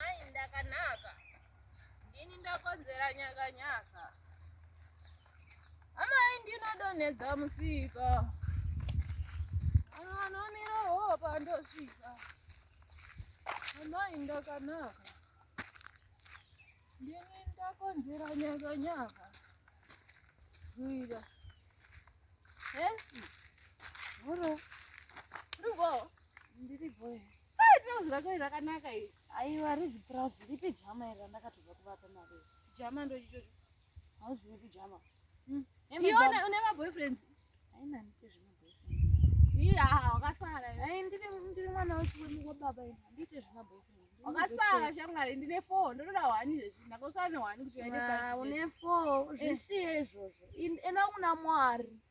Mai ndakanaka. Ndini ndakonzera nyaka nyaka. Amai ndinodonhedza musika. Vanhu vanomira hoho pandosvika. Amai ndakanaka. Ndini ndakonzera nyaka nyaka. Kuita. Hesi. Muro. Ndiripo. Ndiripo. Hai trouse rako iri rakanaka iri. Aiwa rizi trouse ripi jama iri randakatobva kuvapa mari. Jama ndochichocho. Hauzivi kujama. Hmm. Iona une ma boyfriends. Haina nite zvima boyfriends. Iya wakasara. Hai ndiri ndiri mwana wechiwemi wababa iri. Handite zvima boyfriends. Wakasara shamwari ndine 4 ndotoda 1 izvezvi ndakosara ne 1 kuti uende pa. Une 4 zvisiye izvozvo. Enda kuna Mwari.